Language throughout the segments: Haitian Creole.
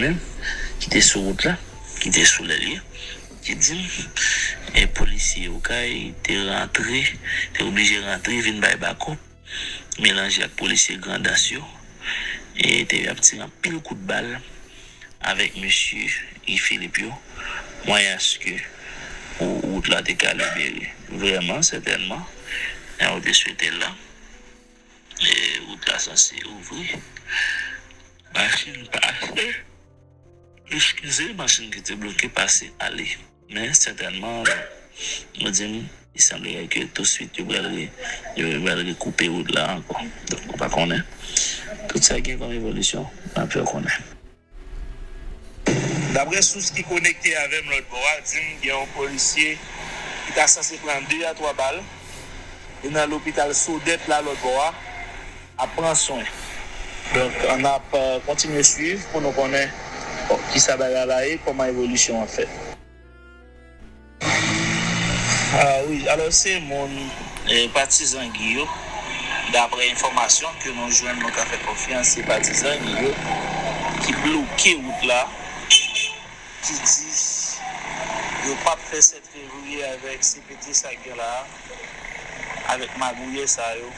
menm ki te sou wout la, ki te sou lèl li, ki di m, e polisye Okay te rantre, te oblije rantre vin bay bakòp, melanje ak polisye Grandans yo, e te ap tire anpil kout bal avèk mesye Guy Philippe yo, mwayaske pou wout la te ka libere. Vrèman, sètènman, jan yo te swete l la, wout la sanse ouvri. Machin pase. Eskize machin ki te bloke pase ale. Men sètènman nou di m li sanblere ke tousuit yo pral re yo pral rekoupe wout la ankò. Donk ou pa konnen. Tout sa gen kòm evolisyon n ap fè w konnen. Daprè sous ki konekte avè m lòt bò a di m gen yon polisye ki ta sanse pran 2 a 3 bal. Li nan lopital Sodèt la lòt bò a. ap pran swen. Donk an ap kontinye swiv pou nou konnen kisa bagay la ye, kòman evolisyon an fèt. Wi, alò se moun patizan Guy yo, daprè enfòmasyon ke nou jwenn nou ka fè konfyans se patizan Guy yo ki bloke wout la, ki di yo pap fè sèten. Fevrier avek CPT sak gen la avek magouyè sa yo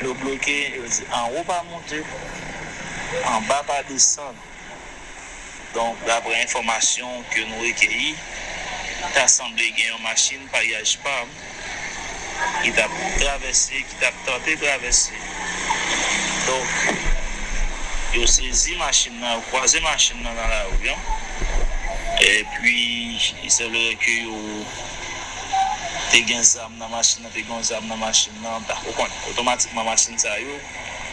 yo bloke yo di anwo pa moute anba pa desann donk daprè enfòmasyon ke nou rekeyi ta sanble gen yon machin paryaj pam Ki t ap travèse, ki t ap tante travèse. Donk, yo sezi machin nan, yo kwaze machin nan nan lari an. Epi, il semblerait que yo te gen zam nan machin nan, te gen yon zam nan machin nan, m pa ko konn. Otomatikman, machin sa yo,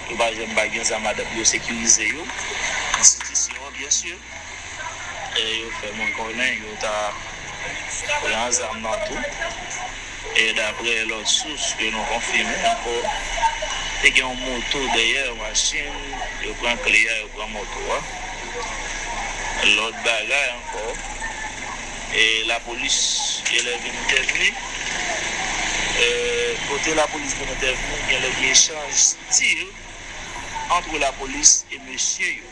yo pa janm pa gen zam ladan l, yo sekirize yo. Enstitisyon an, byensi. e yo fè mwen konnen yo ta pran zam nan tou e daprè lòt sous ke nou konfime ankò te gen yon moto dèyè machin yo pran kle a yo pran moto a lòt bagay ankò e lapolis gen lè vin entèvni e kote lapolis vin entèvni gen lè gen echanj tir antre lapolis e mesye yo.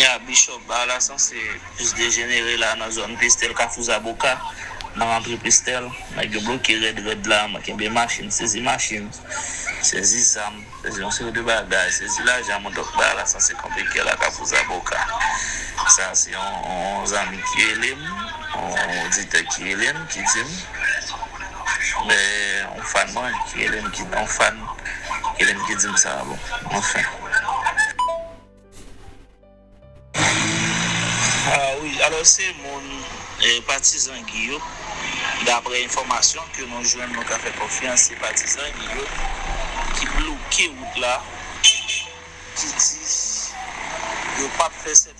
Kounya Bishop bar la sanse plis dejenere la nan zòn Pestel kafou zaboka nan rantre Pestel nèg yo bloke rèd rèd la mwen kenbe machin sezi machin sezi zam sezi yon seri de bagay sezi lajan mwen dòk bar la sanse kanpe kè la kafou zaboka sa se yon zanmi ki relem yon oditè ki relem ki dim yon fan mwen ki relem yon fan ki relem ki dim sa bon anfen. Ah wi alò se moun patizan Guy yo daprè enfòmasyon ke nou jwenn nou ka fè konfyans se patizan Guy yo ki bloke wout la ki di yo pap fè 7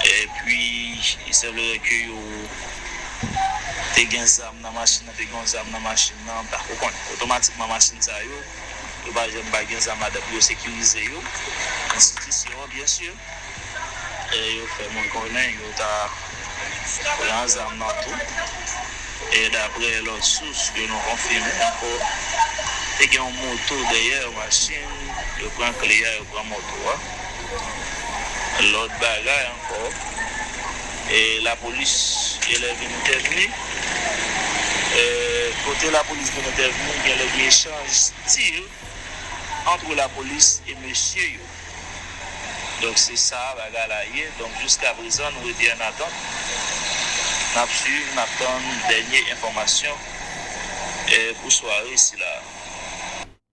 Epi, li sanblere ke yo te gen zam nan machin nan, te gen yon zam nan machin nan, pa, ou konn, otomatikman machin sa yo, yo pa janm pa gen zam ladan pou yo sekirize yo, enstitisyon an, byen si. E yo fè mwen konnen yo ta pran zam nan tou. E dapre lòt sous ke nou konfime ankò, te gen yon moto dèyè yon machin, yo pran kle a, yo pran moto a. Lòt bagay ankò, e lapolis genlè vin entèvni. Kote lapolis vin entèvni, genlè gen echanj tir antre lapolis e mesye yo. Donk se sa bagay la ye. Donk jiska prezan nou rete an atant. N ap swiv, n ap tann dènye enfòmasyon pou sware sila a.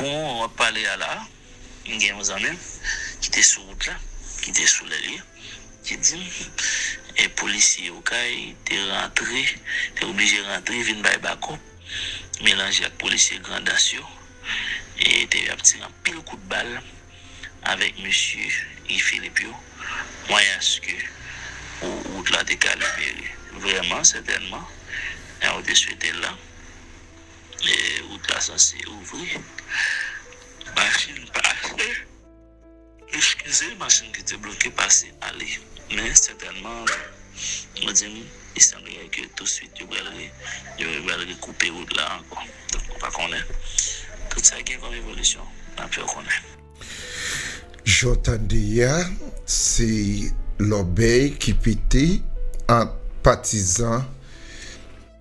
Pou mwen ou ap pale a la a, m gen yon zanmi m ki te sou wout la, ki te sou lè l ye, ki di m e polisye Okay te rantre, te oblije rantre vin bay bakòp, melanje ak polisye Grandans yo e te ap tire anpil kout bal avèk mesye Guy Philippe yo, mwayaske pou wout la te ka libere. Vrèman, sètènman, jan ou te swete l la. Lè wout la sanse ouvri, machin pase. Eskize machin ki te bloke pase ale. Men sètènman, mwen di m, li sanblere ke tousuit yo pral yo pral rekoupe wout la ankò. Donk mwen pa konnen. Tout sa gen kòm evolisyon, n ap fè w konnen. Jan w tande a, se lòbèy ki pete ant patizan.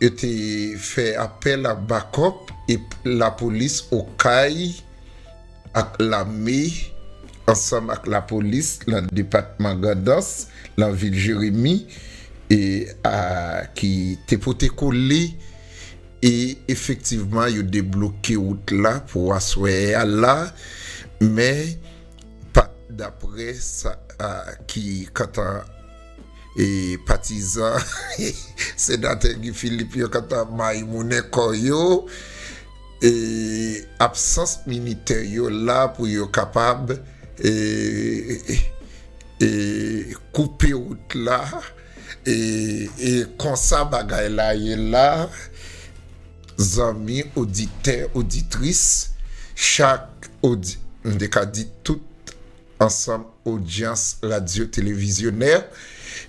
Yo te fè apèl ak bakòp e lapolis Okay ak lame ansanm ak lapolis nan depatman Grandans nan vil Jeremi a ki te pote kole e efektivman yo debloke wout la pou aswè a la men pa daprè sa ki kantan E patizan Senatè Guy Philippe yo kanta mayimounen kò yo e absans militè yo la pou yo kapab e koupe wout la e konsa bagay la ye la zanmi oditè oditris chak odi m te ka di tout. ansanm odyans radyo televizyonè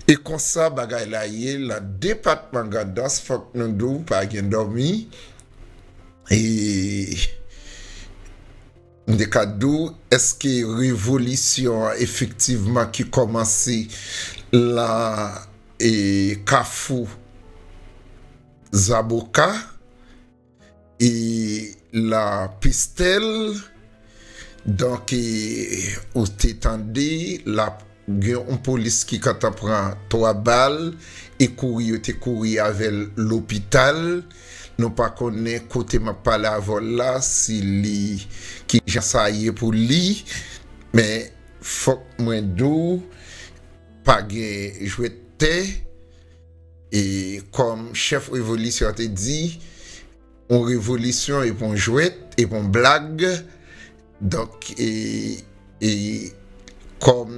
e konsa bagay la ye lan depatman gandans fòk nou di w pa gen dòmi e m te ka di w èske revolisyon an efektivman ki kòmanse lan e kafou zaboka. E la pestel donk ou te tande lap gen yon polis ki kantan pran 3 bal e kouri yo te kouri avèl lopital nou pa konnen kote map pale avèw la si li kijan sa ye pou li men fòk mwen diw pa gen jwèt tè. E kòm chèf revolisyon an te di, yon revolisyon e pa yon jwèt, e pa yon blag. Donk, e kòm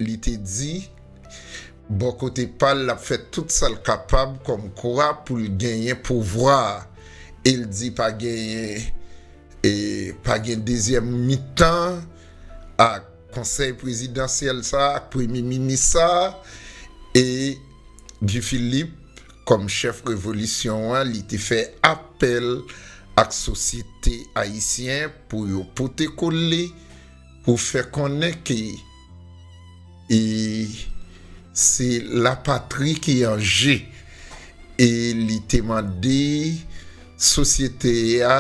li te di, bò kote pa l, l ap fè tout sa l kapab kòm kwa pou l genyen pouvwa a. E l di pa genyen, e pa gen dezyèm mitan ak. Konsèy prezidansyèl sa a ak premye minis sa a e Guy Philippe kòm chèf revolisyon an li te fè apèl ak sosyete ayisyen pou yo pote kole pou fè konnen ke e se lapatri ki an je e li te mande sosyete a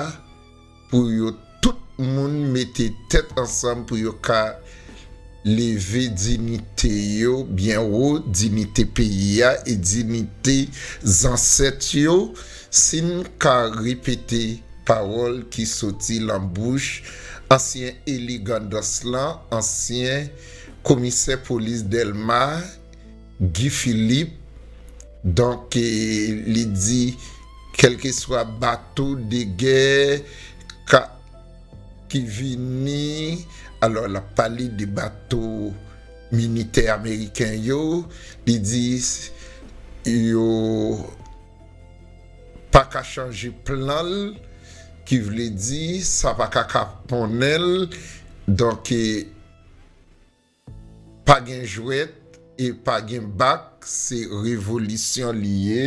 pou yo tout moun mete tèt ansanm pou yo ka leve dinite yo byen wo, dinite peyi a e dinite zansèt yo, si n ka repete pawòl ki soti lan bouch ansyen eli Grandans lan, ansyen komisè polis Dèlma, Guy Philippe, donk li di kèlkeswa bato de gè ka ki vini, alò l ap pale de bato militè ameriken yo, li di yo pa ka chanje plan l, ki vle di sa pa ka kaponnen l, donk. Pa gen jwèt e pa gen bak se revolisyon li ye,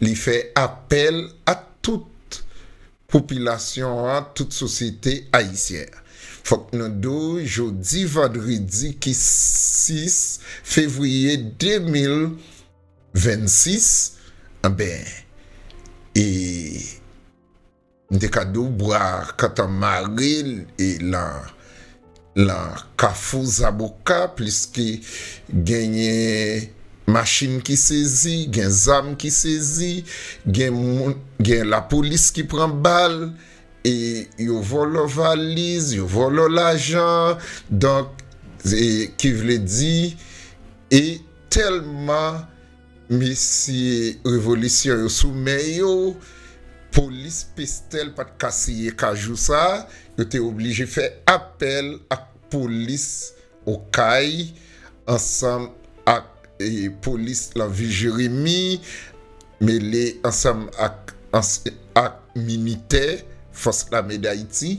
li fè apèl a tout popilasyon an, tout sosyete ayisyen an. Fòk nou di w jodi vandredi ki 6 fevriye 2026 anben e. M te ka di w bwa kantan mare l e lan kafou zaboka pliske genyen machin ki sezi, gen zam ki sezi, gen lapolis ki pran bal e yo vòlò valiz, yo vòlò lajan. Donk, ki vle di e tèlman. Mesye revolisyon yo sou men yo, polis Pestel pat ka siye ka jou sa, yo te oblije fè apèl ak polis Okay ansanm ak polis lan vil Jeremi mele ansanm ak ak militè fòs lame Dayiti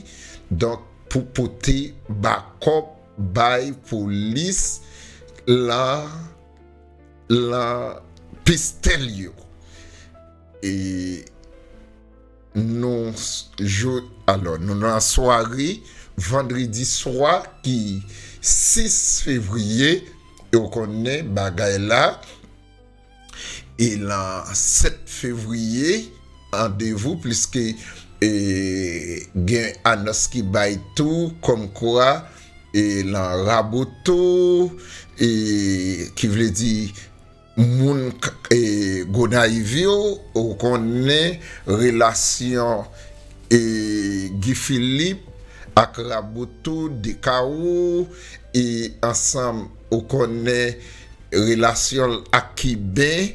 donk pou pote bakòp bay polis lan. Lan pistèl yo. E nou jou, alò nou lan sware vandredi swa ki 6 fevriye e ou konnen bagay la e lan 7 fevriye andevou pliske e gen anons ki bay tou kòmkwa e lan raboto e ki vle di moun e gonayiv yo ou konnen relasyon e Guy Philippe ak raboto de kawo e ansanm ou konnen relasyonl ak kiben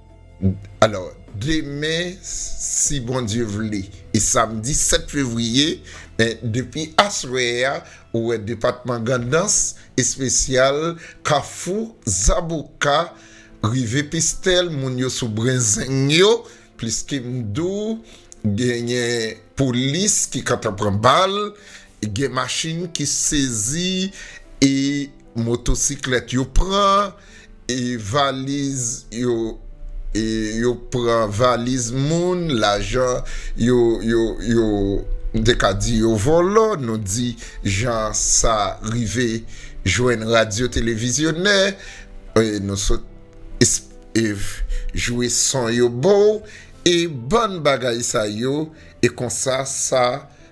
Alò, demen, si Bondye vle, e samdi 7 fevriye, men depi aswè a, ou wè depatman Gandans, espesyal Kafou, Zaboka, rive Pestèl, moun yo sou brenzeng yo, pliske m di w, genyen polis ki kantan pran bal, Gen machin ki sezi e motosiklèt yo pran e valiz yo e yo pran valiz moun, lajan yo yo yo m te ka di yo vòlò, nou di jan sa rive jwenn radyo televizyonè e nou sot esp jwe son yo ba w e bann bagay sa yo e konsa sa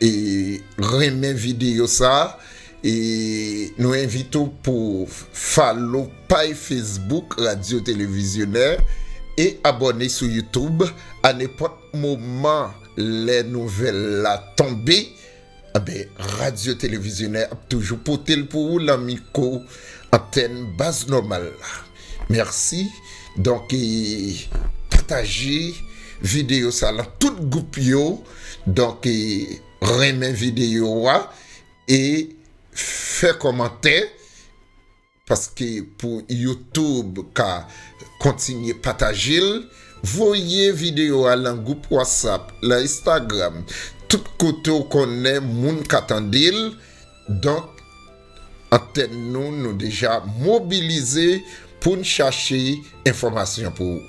E renmen video sa e nou envite w pou follow pay Facebook Radio Televisionè e abòne sou YouTube a nenpòt moman lè nouvèl la tonbe anben Radio Televisionè ap toujou pote l pou ou lan miko antèn baz nòmal la mèsi donk e pataje video sa lan tout gwoup yo. Donk renmen videyo a e fè kòmantè paske pou YouTube ka kontinye pataje l. Voye videyo a lan gwoup WhatsApp, lan Instagram, tout kote w konnen moun ka tande l. Donk antèn nou nou deja mobilize pou n chache enfòmasyon pou ou.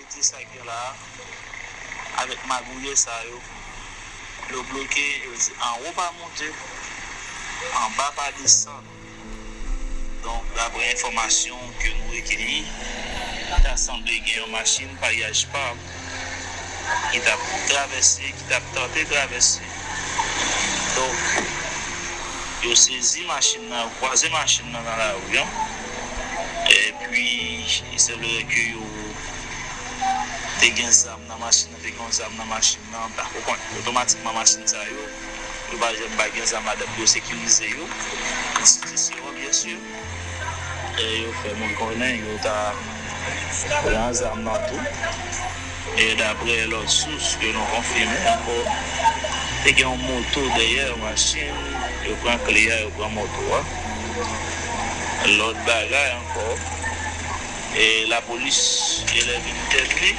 Kite sa gen la avek magouyè sa yo yo bloke yo di anwo pa monte anba pa desann donk daprè enfòmasyon ke nou rekeyi ta sanble gen yon machin paryaj pab ki tap travèse ki tap tante travèse donk yo sezi machin nan yo kwaze machin nan nan lari an epi li sanblerait ke yo. te gen zam nan machin nan, te gen yon zam nan machin nan, ta ko konn. Otomatikman machin sa yo, yo pa janm pa gen zam ladan pou yo sekirize yo. Enstitisyon an byensi, yo fè moun konnen yo ta pran zam nan tou. E daprè lòt sous ke nou konfime ankò, te gen yon moto dèyè machin, yo pran kle a, yo pran moto a. Lòt bagay ankò, Lapolis gen lè vin entèvni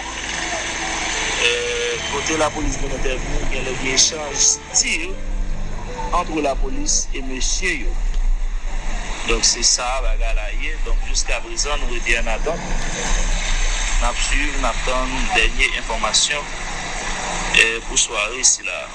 Kote lapolis vin entèvni, gen lè gen echanj tir antre lapolis e mesye yo. Donk se sa a bagay la ye. Donk jiskaprezan nou rete ann atant. N ap suiv, n ap tann dènye enfòmasyon pou sware sila a.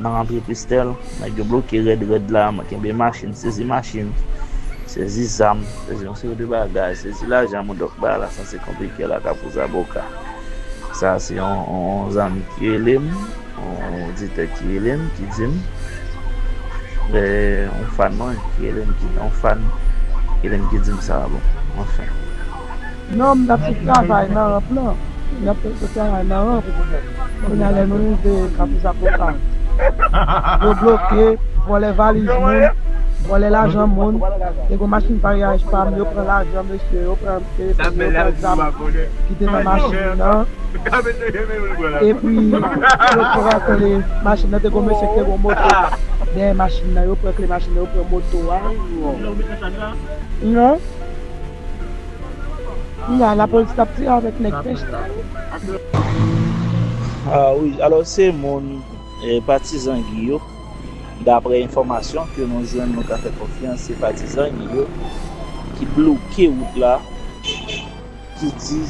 Nan rantre Christelle, nèg yo bloke rèd rèd la, mwen kenbe machin, sezi machin, sezi zam, sezi yon seri de bagay, sezi lajan Modoc bay la san se konplike la Kafou Zaboka. Sa a se yon zanmi ki rele m, yon oditè ki rele m, ki di m, yon fan mwen ki rele m, yon fan ki rele m ki di m sa a bon, anfen. Non m tap sou travay nan ramp lan m tap sou travay nan ramp kounya lè nou rive kafou zapoka yo bloke vòlè valiz moun vòlè lajan moun te gon machin paryaj pam yo pran lajan mesye yo pran telefòn yo pran zam kite nan machin nan epi yo pran kle machin nan te gon mesye ki te gon moto dèyè machin nan yo pran kle machin nan yo pran moto a. Kounya la police tap tire avek neg pech sa yo. Ah wi alò se moun patizan Guy yo daprè enfòmasyon ke nou jwenn nou ka fè konfyans se patizan Guy yo ki bloke wout la ki di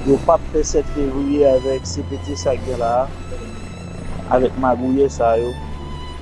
yo pap fè 7 fevriye avèk CPT sa gen la avèk magouyè sa yo.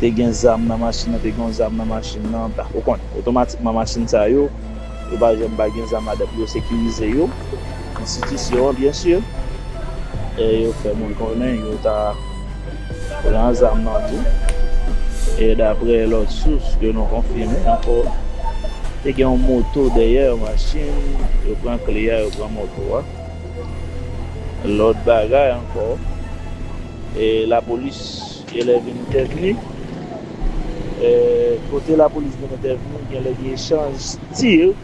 Te gen zam nan machin nan te gen yon zam nan machin nan ou konn otomatikman machin sa yo yo pa janm pa gen zam ladan pou yo sekirize yo enstitisyon an byen si e yo fè moun konnen yo ta pran zam nan tou e dapre lòt sous ke nou konfime ankò te gen yon moto dèyè yon machin yo pran kle a yo pran moto a lòt bagay ankò. E lapolis genlè vin entèvni. E kote lapolis vin entèvni genlè gen echanj tir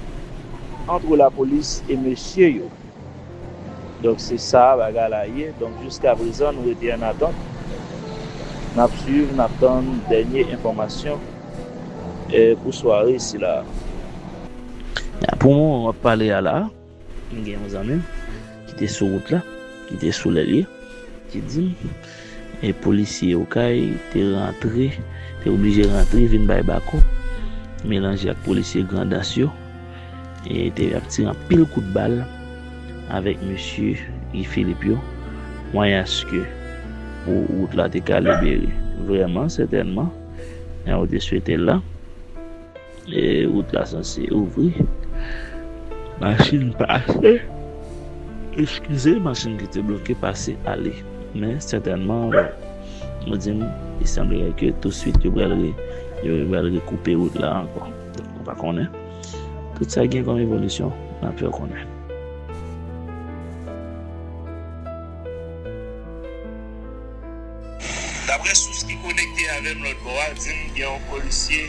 antre lapolis e mesye yo. Donk se sa bagay la ye. Donk jiskaprezan nou rete an atant. N ap swiv, n ap tann dènye enfòmasyon pou sware sila a. Pou moman m ap pale a la. M gen yon zanmi m ki te sou wout la, ki te sou lè l ye, ki di m e polisye Okay te rantre, te oblije rantre vin bay bako, melanje ak polisye Grandans yo e te ap tire anpil kout bal avèk mesye Guy Philippe yo mwayaske pou wout la te ka libere. Vrèman, sètènman, jan yo te swete l la. E wout la sanse ouvri. Machin pase. Eskize machin ki te bloke pase ale. Men sètènman nou di m li sanblere ke tousuit yo pral yo pral rekoupe wout la ankò. Donk nou pa konnen. Tout sa gen kòm evolisyon n ap fè w konnen. Daprè sous ki konekte avèm lòt bò a dim gen yon polisye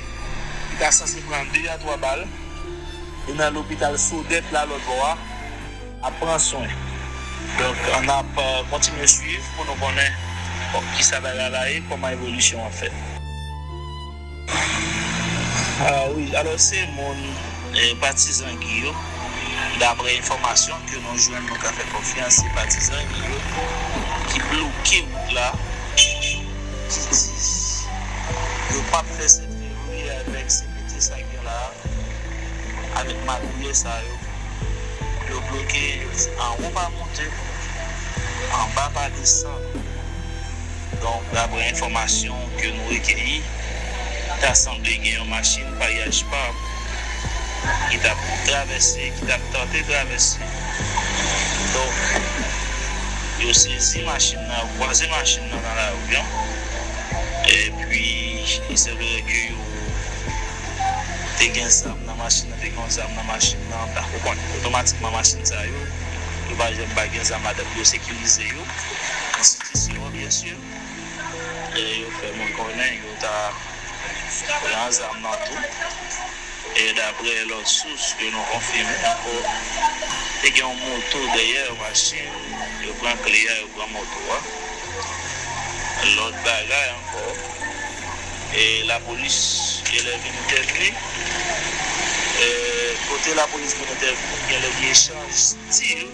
ki ta sanse pran 2 a 3 bal li nan lopital Sodèt la lòt bò a ap pran swen donk nap kontinye swiv pou nou konnen kisa bagay la ye kòman evolisyon an fèt. Wi alò se moun patizan Guy yo daprè enfòmasyon ke nou jwenn nou ka fè konfyans se patizan Guy yo ki bloke wout la ki di yo pap fè 7 fevriye avèk CPT sa gen la avèk magouyè sa yo yo bloke yo di anwo pa monte anba pa desann. Donk, daprè enfòmasyon ke nou rekeyi, ta sanble gen yon machin paryaj pab ki t ap travèse, ki t ap tante travèse. Donk, yo sezi machin nan, yo kwaze machin nan nan lari an, epi li sèvere ke yo te gen zam nan machin nan, te gen yon zam nan machin nan, ta pou konn. Otomatikman machin sa yo, yo pa janm pa gen zam ladan pou yo sekirize yo. enstitisyon an byen sur e yo fè moun konnen yo ta pran zam nan tou e daprè lòt sous ke nou konfime ankò te gen yon moto dèyè yon machin yo pran kle a yo pran moto a lòt bagay ankò e lapolis genlè vin entèvni e kote lapolis vin entèvni genlè gen echanj tir.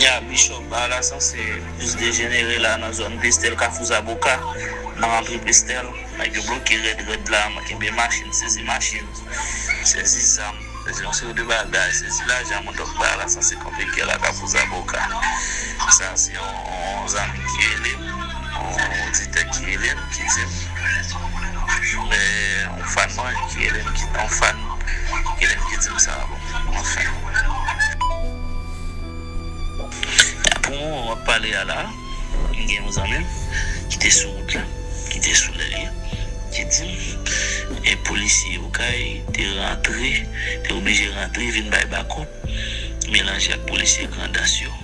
Ya bishop bala sanse plis dejenere la nan zòn pestel kafou zaboka nan rantre pestel nèg yo bloke rèd rèd la mwen kenbe machin sezi machin sezi zam sezi yon seri de bagay sezi lajan mwen donk bala sanse kanpe gè la kafou zaboka sa se yon zanmi ki relem. Yon oditè ki rele m ki di m yon fan mwen ki rele m ki yon fan ki rele m ki di m sa bon anfen pou moman map pale a la m gen yon zanmi m ki te sou wout la ki te sou lèl li ki di m e polisye okay te rantre te oblije rantre vin bay bakòp melanje ak polisye grandans yo.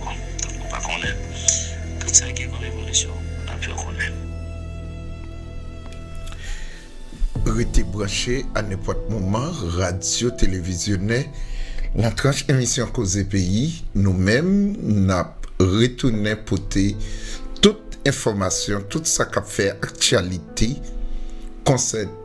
Bon ou pa konnen tout sa gen kom evolisyon nap fè konnen. Rete branche a nenpòt moman radyo televizyone nan tranch emisyon koze peyi nou menm nap retounen pote tout enfòmasyon tout sa kap fè aktyalite konsène.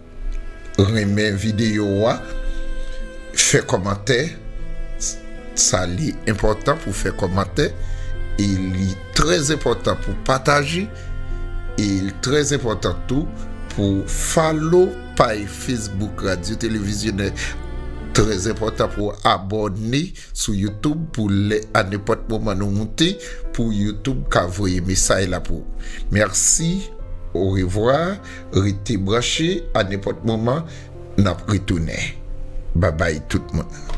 Renmen videyo a, fè kòmantè, sa li enpòtan pou fè kòmantè, e li trè enpòtan pou pataje, e li trè enpòtan tou pou follow pay Facebook Radyo Televizyonè, trè enpòtan pou abòne sou YouTube pou lè a nenpòt moman nou moute pou YouTube ka voye mesay la pou ou. Mèsi, orevwa. Rete branche a nenpòt moman nap retounen babay tout moun.